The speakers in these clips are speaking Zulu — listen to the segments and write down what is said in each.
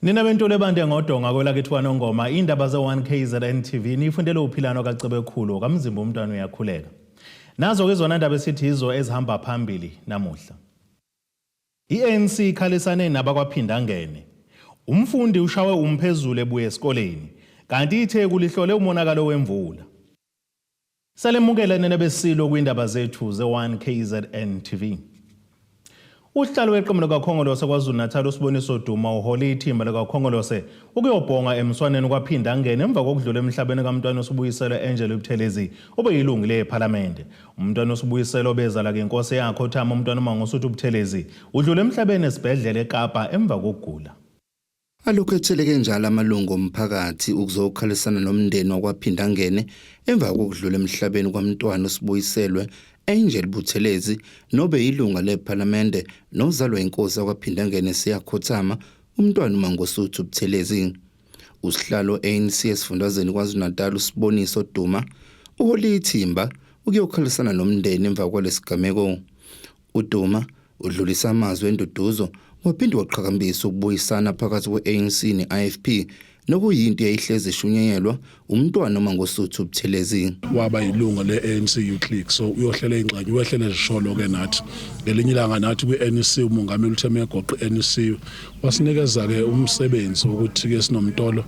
nina bentolo ebande ngodonga kwelakithi kwanongoma iy'ndaba ze-1 kzn tv niyifundele uphilano kacebekhulu kamzimba umntwana uyakhuleka nazo-ke izona ndaba esithi yizo ezihamba phambili namuhla I-ANC ikhalisane nabakwaPhindangene. Umfundi ushawe umphezulu ebuya esikoleni, kanti iTheku lihlole umonakalo wemvula. Salemukela nina beSilo kwiindaba zethu ze-1 KZN TV. Usihlalo weqembu likaKhongolose KwaZulu-Natal uSiboniso Duma uhole ithimba likaKhongolose ukuyobhonga emswaneni kwaPhindangene emva kokudlula emhlabeni kaMntwana uSibuyiselwe Angelo Buthelezi obeyilungu lePhalamende. Umntwana uSibuyiselo obezala ngenkosi yakhe othama umntwana uMangosuthu Buthelezi udlule emhlabeni esibhedlela eKapa emva kokugula. Alokhu etheleke njalo amalungu omphakathi ukuzokhalisana nomndeni wakwaPhindangene emva kokudlula emhlabeni kwamntwana uSibuyiselwe Angel Buthelezi nobe yilunga lePhalamende nozalwa inkosi yakwaPhindangene siyakhothama umntwana uMangosuthu Buthelezi. Usihlalo ANC esifundazweni KwaZulu-Natal uSiboniso Duma uhole ithimba ukuyokhalisana nomndeni emva kwalesigameko. UDuma udlulisa amazwi enduduzo waphinde waqhakambisa ukubuyisana phakathi kwe-ANC ne-IFP nokuyinto eyayihlezi ishunyayelwa umntwana uMangosuthu Buthelezi. Waba yilunga le-ANC Youth League so uyohlela ingxenye uwehlele zisholo ke nathi. Ngelinye ilanga nathi kwi-NEC umongameli uthe megoqa i-NEC wasinikeza ke umsebenzi wokuthi ke sinomtolo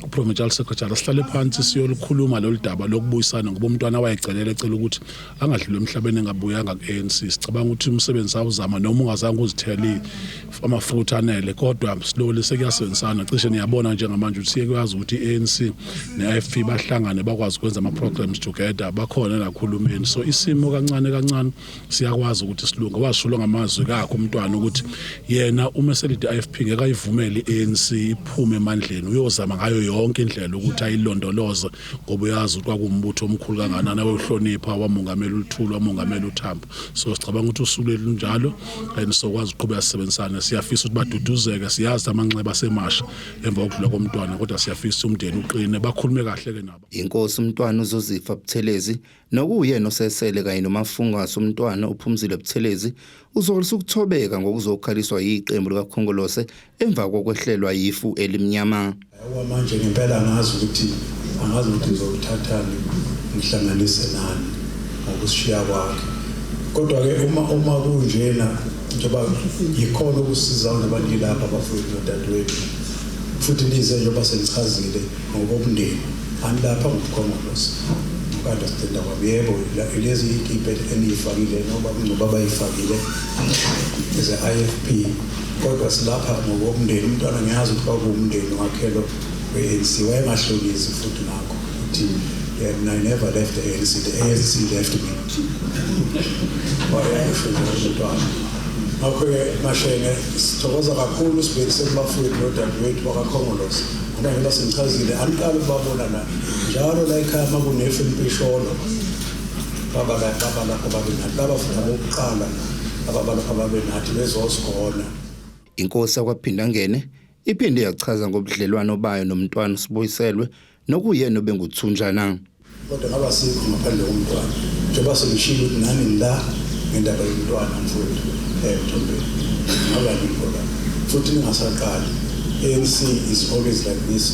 uProvincial Secretary sihlale phansi siyolukhuluma lolu daba lokubuyisana ngoba umntwana wayecelele ecela ukuthi angadluli emhlabeni engabuyanga ku-ANC sicabanga ukuthi umsebenzi awuzama noma ungazange uzithele amafutha anele kodwa slowly sekuyasebenzisana cishe niyabona njengamanje ukuthi siyekwazi ukuthi i-ANC ne-IFP bahlangane bakwazi ukwenza ama-programs together bakhona nakhulumeni so isimo kancane kancane siyakwazi ukuthi silunge washulo ngamazwi kakho umntwana ukuthi yena uma eselide i-IFP ngeke ayivumele i-ANC iphume emandleni uyozama ngayo yonke indlela ukuthi ayilondoloze ngoba uyazi ukuthi kwakuwumbutho omkhulu kanganani awehlonipha wamongamela uluthulu wamongamela uthambo so sicabanga ukuthi usuku lethu njalo and sokwazi uqhubeka sisebenzisane siyafisa ukuthi baduduzeke siyazi amanxeba semasha emva kokudlula komntwana kodwa siyafisa umndeni uqine bakhulume kahle ke nabo inkosi umntwana uzozifa buthelezi nokuyena osesele kanye nomafungasi umntwana uphumzile buthelezi uzolisa ukuthobeka ngokuzokhaliswa yiqembu likakhongolose emva kokwehlelwa yifu elimnyama. Yawa manje ngempela angazi ukuthi angazi ukuthi ngizokuthathani ngihlanganise nani ngokushiya kwakhe. Kodwa-ke uma uma kunjena njengoba yikhona ukusiza ngoba ngilapha bafowethu nodadewethu futhi nize njengoba senichazile ngokomndeni anilapha ngobukhongolose ukunderstanda kwabo yebo lezi iy'kibhe eniyifakile noma kungcoba abayifakile ze-i f p Kodwa silapha ngokomndeni umntwana ngiyazi ukuthi kwakuwumndeni wakhe lo we-ANC wayengahlonizi futhi nakho ukuthi yena I never left the ANC the ANC left me wayasho umntwana ngakho-ke mashenge sithokoza kakhulu sibhekise kubafowethu nodadewethu bakakhongolosi ngoba njengoba sengichazile aniqali ukubabona la njalo la ekhaya uma kunefu empisholo Babala babala ababenathi babafunda bokuqala ababala ababenathi bezozigona. Inkosi yakwaPhindangene iphinde yachaza ngobudlelwano bayo nomntwana uSibuyiselwe nokuyena obenguthunjana. Kodwa ngaba sikho ngaphandle komntwana njengoba sengishilo ukuthi nani ngila ngendaba yomntwana mfowethu eh Mthombeni ngaba yikho la futhi ningasaqali ANC is always like this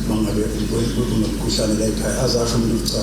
mangabe kunomkhuhlane la ekhaya azasho umuntu cha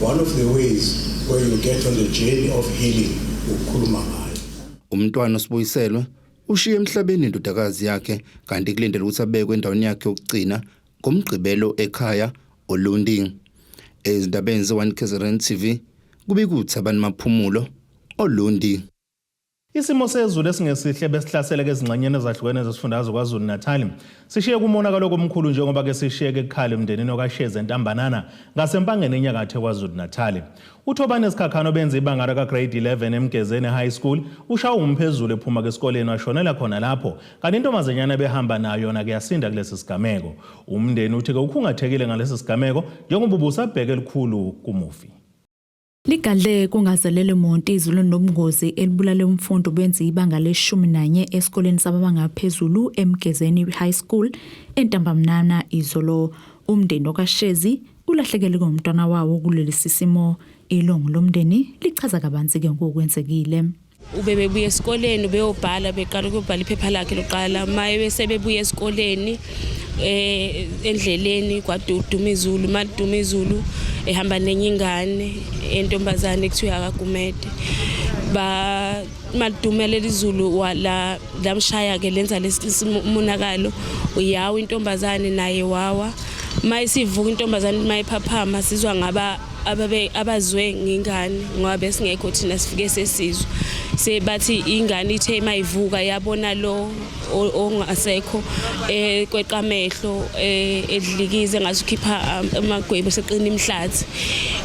One of the ways where you get on the journey of healing ukukhuluma ngayo. Umntwana usibuyiselwe ushiye emhlabeni indodakazi yakhe kanti kulindele ukuthi abekwe endaweni yakhe yokugcina ngomgqibelo ekhaya Olundi. Ezindabeni ze-1 KZN TV kubikuthi abantu maphumulo Olundi. Isimo sezulu esingesihle besihlasele ezingxenyeni ezahlukene zesifundazwe KwaZulu-Natali sishiye kumonakalo komkhulu njengoba ke sishiyeke kukhala emndenini okaShezi entambanana ngasempangeni enyakatho KwaZulu-Natali. UThobani Sikhakhane obenza ibanga lakagrade 11 eMgezeni High School ushawa umphezulu ephuma kesikoleni washonela khona lapho kanti intombazanyana ebehamba nayo yona ke yasinda kulesi sigameko. Umndeni uthi ke ukhungathekile ngalesi sigameko njengoba ubusabheke elikhulu kumufi. Ligadle kungazelele monti izulu nobungozi elibulale umfundi obenza ibanga leshumi nanye esikoleni sababanga phezulu eMgezeni High School entambamnana izolo. Umndeni okaShezi ulahlekele ngomntwana wawo kuleli sisimo. Ilungu lomndeni lichaza kabanzi ke ngokwenzekile. ubebebuya esikoleni ubeyobhala beqala ukuyobhala iphepha lakhe lokuqala maye bese bebuya esikoleni eh endleleni kwaduduma izulu maliduma izulu ehamba nenye ingane entombazane kuthiwa akagumede ba maliduma leli zulu la lamshaya ke lenza lesimonakalo uyawa intombazane naye wawa mayisivuka intombazane mayiphaphama sizwa ngaba ababe abazwe ngengane ngoba besingekho thina sifike sesizwe sebathi ingane ithe mayivuka yabona lo ongasekho eh kweqamehlo eh, edlikize ngathi ukhipha um, amagwebu seqina imhlathi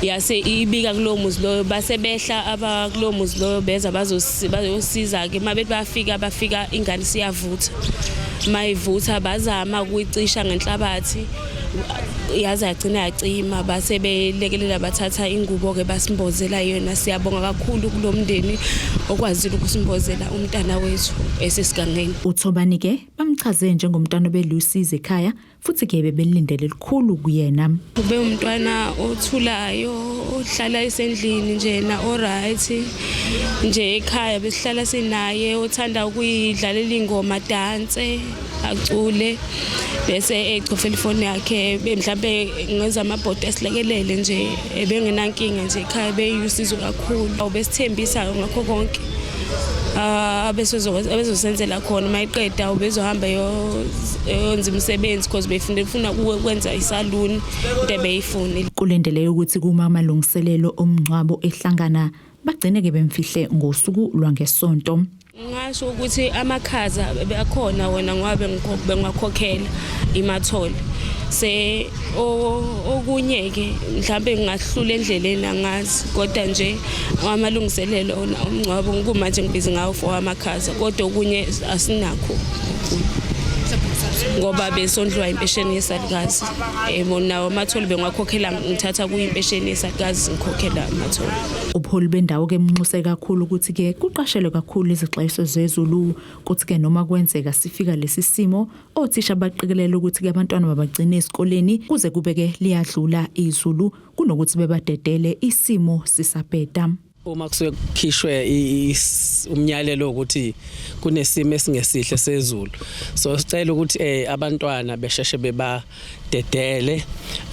yase ibika kulowo muzi loyo base behla abakulowo muzi loyo beza bazosiza ke mabethi bafika bafika ingane siyavutha mayivutha bazama ukuyicisha ngenhlabathi yaze yagcina yacima base belekelela bathatha ingubo-ke basimbozela yona siyabonga kakhulu kulo mndeni okwazile ukusimbozela umntana wethu esesigangeni uthobani-ke bamchaze njengomntwana obelusizi ekhaya futhi-ke bebelindele lukhulu kuyena ube umntwana othulayo ohlala esendlini njena oright nje ekhaya besihlala sinaye othanda ukuyidlalela ingoma danse acule bese echofa ifoni yakhe mhlawumbe ngenza amabhodi esilekelele nje ebengenankinga nje ekhaya beyusizo kakhulu besithembisa ngakho konke ah, abezosenzela khona uma iqeda ubezohamba yonza imisebenzi because befuna befuna ukwenza isaluni into ebeyifunile kulindeleke ukuthi kuma amalungiselelo omngcwabo ehlangana bagcine ke bemfihle ngosuku lwangesonto ngasho ukuthi amakhaza akhona wona ngoba bengwakhokhela imathole se okunye ke mhlambe ngahlula endleleni angazi kodwa nje amalungiselelo ona umngcwabo ngikuma nje ngibizi ngawo for amakhaza kodwa okunye asinakho ngoba besondliwa impesheni yesalukazi yebo nawo amatholi bengiwakhokhela ngithatha kuyimpesheni yesakazi ngikhokhela amatholi ubuholi bendawo ke mnxuse kakhulu ukuthi ke kuqashelwe kakhulu izixwayiso zezulu kuthi ke noma kwenzeka sifika lesi simo othisha baqikelele ukuthi ke abantwana babagcine esikoleni kuze kubeke liyadlula izulu kunokuthi bebadedele isimo sisabheda Uma kusuke kukhishwe umnyalelo ukuthi kunesimo esingesihle sezulu so sicela ukuthi eh abantwana besheshe bebadedele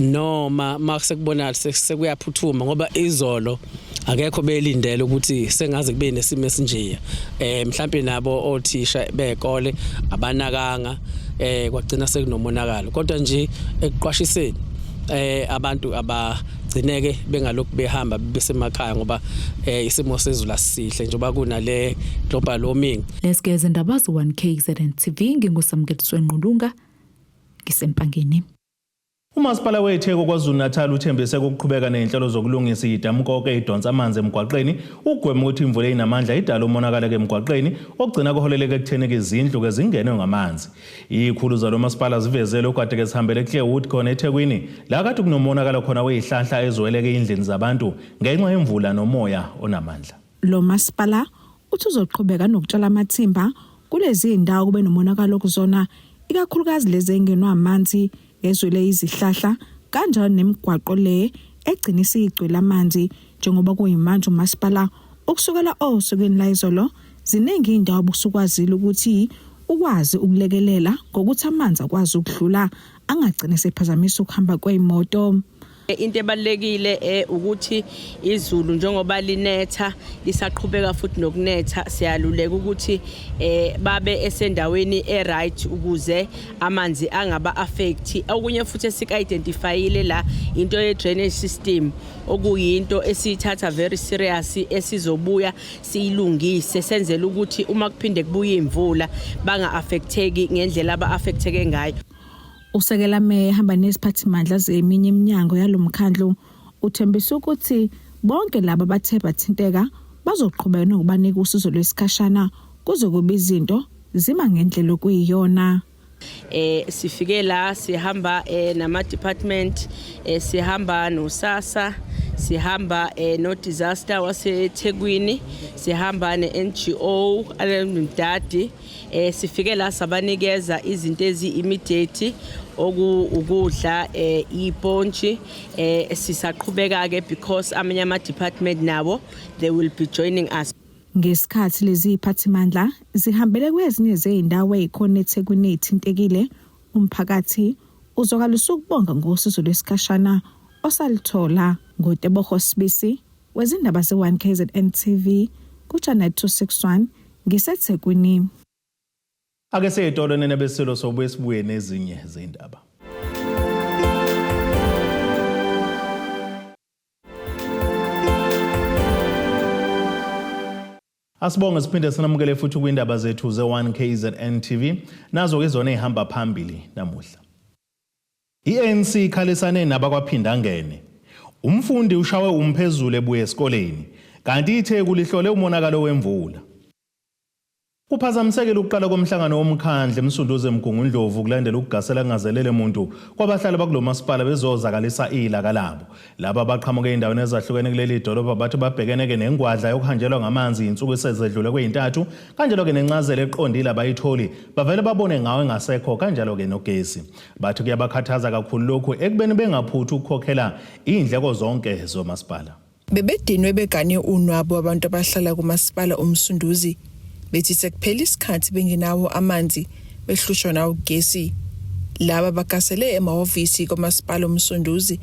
noma makuse kubona sekuyaphuthuma ngoba izolo akekho belindele ukuthi sengaze kube nesimo esinjeya eh mhlambe nabo othisha bekole abanakanga eh kwagcina sekunomonakalo kodwa nje ekuqwashiseni eh abantu aba gcineke bengalokhu behamba besemakhaya ngoba eh, isimo sezulu asihle njengoba kunale global warming lesigeze ndabazo 1KZN TV ngingusamkeliswe nqulunga ngisempangeni Umasipala weTheku KwaZulu-Natal uthembise ukuqhubeka nezinhlelo zokulungisa idamu konke idonsa amanzi emgwaqeni ukugwema ukuthi imvula eyinamandla idale umonakalo emgwaqeni ogcina kuholeleke ekutheni izindlu ke zingenwe ngamanzi. Ikhulu zalo masipala zivezele ukwadeke zihambele eClearwood khona eThekwini la kade kunomonakala khona weyihlanhla ezweleke eyindlini zabantu ngenxa yemvula nomoya onamandla. Lo masipala uthi uzoqhubeka nokutshala amathimba kulezi ndawo kube nomonakalo kuzona ikakhulukazi lezi engenwa amanzi Yezwe le izihlahla kanjalo nemigwaqo le egcina isigcwele amanzi njengoba kuyimanje umasipala ukusukela osukwini layizolo ziningi indawo obusukwazile ukuthi ukwazi ukulekelela ngokuthi amanzi akwazi ukudlula angagcine sephazamisa ukuhamba kweyimoto Into ebalulekile eh, ukuthi izulu njengoba linetha lisaqhubeka futhi nokunetha siyaluleka ukuthi eh, babe esendaweni e-right ukuze amanzi angaba affect okunye futhi esika-identifyile la into ye-drainage system okuyinto esiyithatha very serious esizobuya siyilungise senzela ukuthi uma kuphinde kubuye imvula banga-affecteki ngendlela aba-affecteke ngayo Usekela meya ehamba neziphathimandla zeminye iminyango yalo mkhandlu uthembisa ukuthi bonke laba bathe bathinteka bazoqhubeka nokubanika usizo lwesikhashana kuze kube izinto zima ngendlela okuyiyona. eh sifike la sihamba eh nama department eh sihamba nosasa sihamba eh no disaster waseThekwini sihamba ne NGO alemdadi Eh sifike la sabanikeza izinto ezi immediate okudla eh ipontshi eh sisaqhubeka ke because amanye ama department nawo they will be joining us Ngesikhathi lezi iphathimandla zihambele kwezinye zezindawo ezikhona eThekwini ezithintekile umphakathi uzokala usukubonga ngosizo lwesikhashana osaluthola ngoTeboho Sibisi Wezindaba se-1 KZN TV kuChannel 261 ngiseThekwini. Ake siye etolo nenebeselo sobuye sibuye nezinye zindaba. Asibonge siphinde sinamukele futhi kwindaba zethu ze-1 KZN TV nazo ke izona ezihamba phambili namuhla. I-ANC ikhalisane nabakwaPhindangene. Umfundi ushawe umphezulu ebuya esikoleni, kanti iTheku lihlole umonakalo wemvula. Kuphazamisekile ukuqala komhlangano womkhandlu eMsunduzi eMgungundlovu kulandela ukugasela kungazelele muntu kwabahlali bakulo masipala bezozakalisa ilaka labo. Laba abaqhamuke ezindaweni ezahlukene kuleli dolobha bathi babhekene-ke nengwadla yokuhanjelwa ngamanzi iy'nsuku esezedlule kweyintathu, kanjalo-ke nencazelo eqondile abayitholi, bavele babone ngawo engasekho kanjalo-ke nogesi. Bathi kuyabakhathaza kakhulu lokhu ekubeni bengaphuthi ukukhokhela iy'ndleko zonke zomasipala. Bebedinwe begane unwabu abantu abahlala kumasipala uMsunduzi bethi sekuphela isikhathi bengenawo amanzi behlushwa nawo ugesi. Laba bakasele emahhovisi komasipala uMsunduzi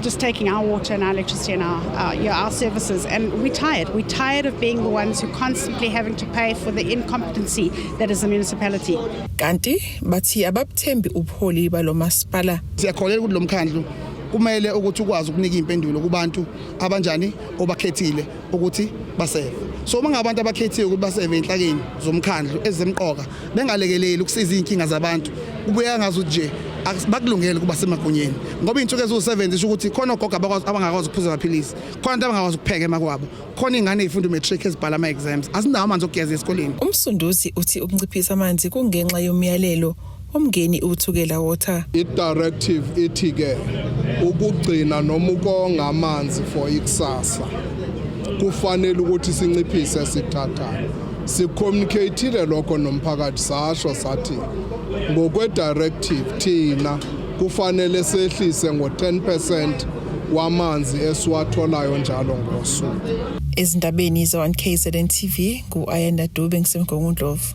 just taking our water and our electricity and our, our, you know, our services. And we're tired. We're tired of being the ones who constantly having to pay for the incompetency that is the municipality. Kanti bathi ababuthembi ubuholi balo masipala. Siyakholelwa ukuthi lo mkhandlu kumele ukuthi ukwazi ukunika impendulo kubantu abanjani obakhethile. ukuthi baseve so uma ngabantu abakhethiwe ukuthi baseve inhlakeni zomkhandlu ezemqoka bengalekeleli ukusiza izinkinga zabantu kubuya ngazi ukuthi nje bakulungele ukuba semagunyeni ngoba izinsuku eziwu-70 isho ukuthi khona ogogo abangakwazi ukuphuza amaphilisi khona abantu abangakwazi ukupheka emakwabo khona iy'ngane ey'funda umatric ezibhala ama-exams azinawo amanzi okugeza esikoleni umsunduzi uthi ukunciphisa amanzi kungenxa yomyalelo uMngeni uThukela Water. I-directive ithi ke ukugcina noma ukonga amanzi for ikusasa kufanele ukuthi sinciphise sithathayo sicommunicatile lokho nomphakathi sasho sathi ngokwe-directive thina kufanele sehlise ngo-10 percent wamanzi esiwatholayo njalo ngosuku ezindabeni za-1 kzn tv ngu-ayanda dube ngisemgongundlovu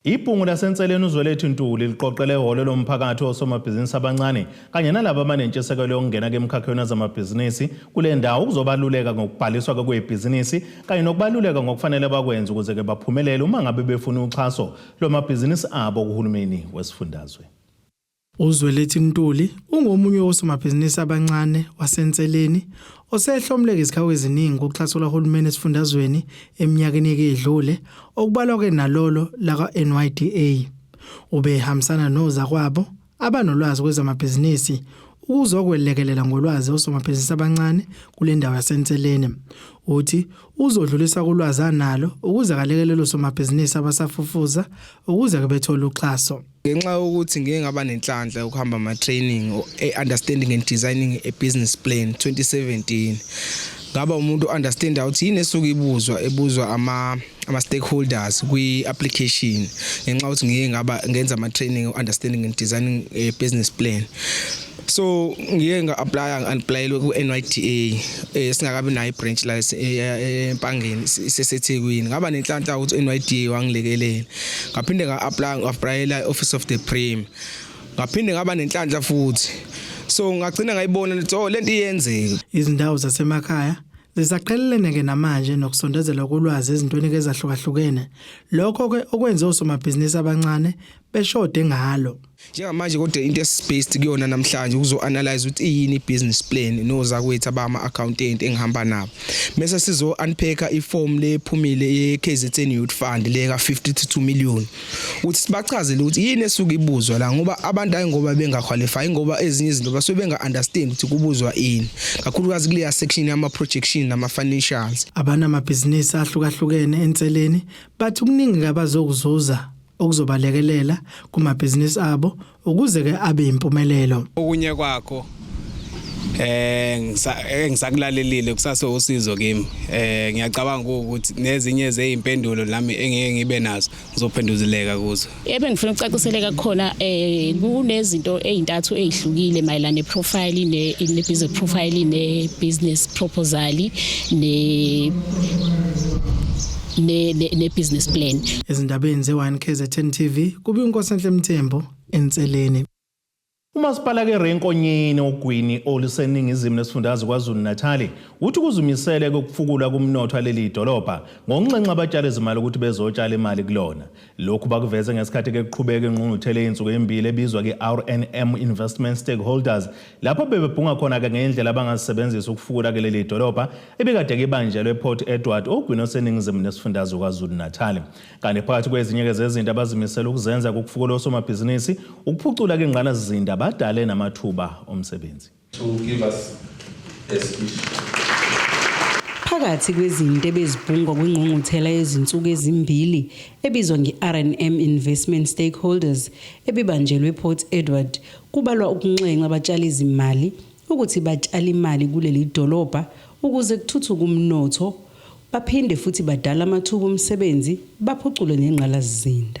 Ibhungu laseNseleni uZwelethi Ntuli liqoqele ehholo lomphakathi osomabhizinisi abancane kanye nalabo abanentshisekelo yokungena kemkhakheni wezamabhizinisi kule ndawo ukuzobaluleka ngokubhaliswa kwebhizinisi kanye nokubaluleka ngokufanele bakwenze ukuze ke baphumelele uma ngabe befuna uxhaso lwamabhizinisi abo kuhulumeni wesifundazwe. UZwelethi Ntuli ungomunye wosomabhizinisi abancane waseNseleni osehlomleke izikhawu eziningi kuxhaso lwahulumeni esifundazweni eminyakeni eke idlule okubalwa ke nalolo laka-NYDA. Ubehambisana nozakwabo abanolwazi kwezamabhizinisi ukuzokwelekelela ngolwazi osomabhizinisi abancane kule ndawo yaseNseleni. Uthi uzodlulisa kulwazi analo ukuze akalekelele osomabhizinisi abasafufuza ukuze ke bethole uxhaso. Ngenxa yokuthi ngike ngaba nenhlanhla yokuhamba ama-training e-understanding and designing a business plan 2017 ngaba umuntu understand ukuthi yini esuke ibuzwa ebuzwa ama ama stakeholders kwi application ngenxa ukuthi ngike ngaba ngenza ama training understanding and designing a business plan so ngiye nga-aplya ngi-aplayelwe ku-nyda eh, singakabi nayo i-branch la eh, eh, empangeni isesethekwini ngaba nenhlanhla ukuthi u-nyda wangilekelela ngaphinde nga-aplya ngi-aplayela i-office of the prim ngaphinde ngaba nenhlanhla futhi so ngagcina ngayibona lithi oh lento iyenzeka izindawo zasemakhaya zisaqhelelene ke namanje nokusondezela kolwazi ezintweni ezahlukahlukene lokho ke okwenze osomabhizinisi abancane beshode ngalo. Njengamanje kodwa into esibased kuyona namhlanje ukuzoanalyze ukuthi iyini business plan nozakwethu abama accountant engihamba nabo. Mese sizo unpacker iform lephumile ye KZN Youth Fund le ka 52 million. Uthi sibachazele ukuthi yini esuke ibuzwa la ngoba abantu ayi ngoba bengaqualify ngoba ezinye izinto basuke benga understand ukuthi kubuzwa ini. Kakhulukazi kuleya section yama projection nama financials. Abana amabhizinisi ahlukahlukene enseleni bathi kuningi abazokuzuza okuzobalekelela kumabhizinisi abo ukuze ke abe impumelelo okunye kwakho eh ngisakulalelile kusase usizo kimi eh ngiyacabanga ukuthi nezinye zeimpendulo nami engeke ngibe nazo ngizophenduzileka kuzo ebe ngifuna ukucaciseleka khona eh kunezinto ezintathu ezihlukile mayelana ne profile ne ne business profile ne business proposal ne ne, ne, ne business plan ezindabeni ze 1 KZN TV kubi uNkosenhle Mthembu enseleni Umasipala keRenkonyeni ogwini oluseningizimu nesifundazwe KwaZulu-Natali uthi kuzimisele kokufukulwa kumnotho aleli dolobha ngokunxenxa abatshali izimali ukuthi bezotshala imali kulona. Lokhu bakuveze ngesikhathi ke kuqhubeka ingqungquthela yey'nsuku ezimbili ebizwa ke-RNM Investment Stakeholders lapho bebebhunga khona-ke ngendlela abangazisebenzisa ukufukula ke leli dolobha ebikade kibanjelwe ePort Edward ogwini oseningizimu nesifundazwe KwaZulu-Natali. Kanti phakathi kwezinye-ke zezinto abazimisele ukuzenza kukufukula osomabhizinisi, ukuphucula ke ingqalasizinda badale namathuba omsebenzi. to give us a speech. Phakathi kwezinto ebezibhungwa kwingqungquthela yezinsuku ezimbili ebizwa nge-RNM Investment Stakeholders ebibanjelwe ePort Edward kubalwa ukunxenxa abatshali izimali ukuthi batshale imali kuleli dolobha ukuze kuthuthuke umnotho baphinde futhi badala amathuba omsebenzi baphucule nengqalasizinda.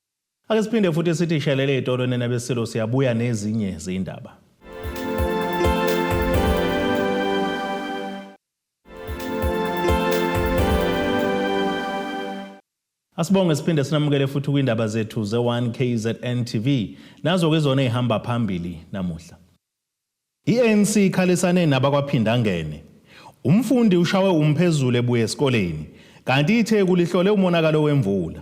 Ake siphinde futhi sithi shelele itolo nina besilo siyabuya nezinye zindaba. Asibonge siphinde sinamukele futhi kwindaba zethu ze-1 KZN TV nazo-ke izona ey'hamba phambili namuhla. I-ANC ikhalisane nabakwaphindangene. Umfundi ushawe umphezulu ebuya esikoleni kanti itheku lihlole umonakalo wemvula.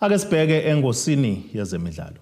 Ake sibheke engosini yezemidlalo.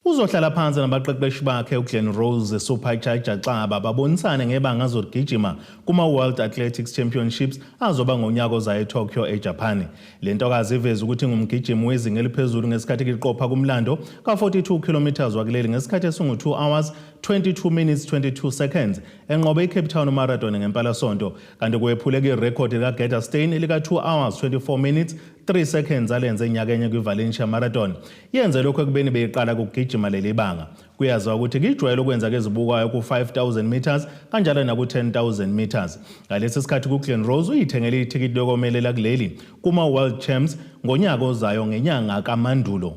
Uzohlala phansi nabaqeqeshi bakhe uGlen Rose Suphajaja Xaba babonisane ngebanga azogijima kuma-World Athletics Championships azoba ngonyaka ozayo eTokyo eJapani. Le ntokazi iveze ukuthi ingumgijimi wezinga eliphezulu ngesikhathi kiqopha kumlando ka-42 kilometres wakuleli ngesikhathi esingu-2 hours 22 minutes 22 seconds enqobe iCape Town Marathon ngempalasonto kanti kwephuleka irekhodi likaGerda Steyn elika-2 hours 24 minutes 3 seconds alenze nyakenye kwi-valencia marathon yenze lokhu ekubeni beyiqala kugijima leli banga kuyaziwa ukuthi kuyijwayele ukwenza kezibukayo ku-5000 meters kanjalo naku-10000 meters ngalesi sikhathi kuglen rose uyithengele ithikithi lokomelela kuleli kuma-world champs ngonyaka ozayo ngenyanga kamandulo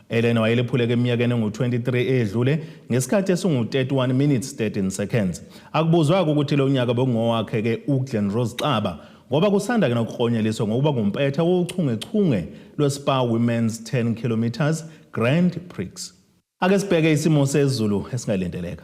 Elena wayelephuleke eminyakeni engu-23 edlule ngesikhathi esingu-31 minutes 13 seconds. Akubuzwake ukuthi lo nyaka bekungowakhe-ke uGlen Rose Xaba ngoba kusanda ke nokuklonyeliswa ngokuba ngumpetha wochungechunge lweSpa Women's 10 kilometres Grand Prix. Ake sibheke isimo sezulu esingalindeleka.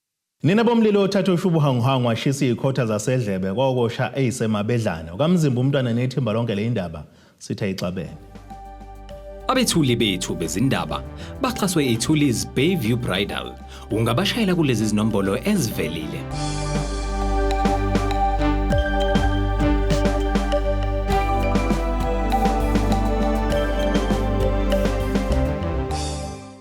Nina bomlilo othatha ushubuhanguhangu washisa izikhotha zasedlebe kwakosha eyisemabedlane ukamzimba umntwana nethimba lonke le indaba sithe ixabene. Abethuli bethu bezindaba baxhaswe iThuli's Bayview Bridal. Ungabashayela kulezi zinombolo ezivelile.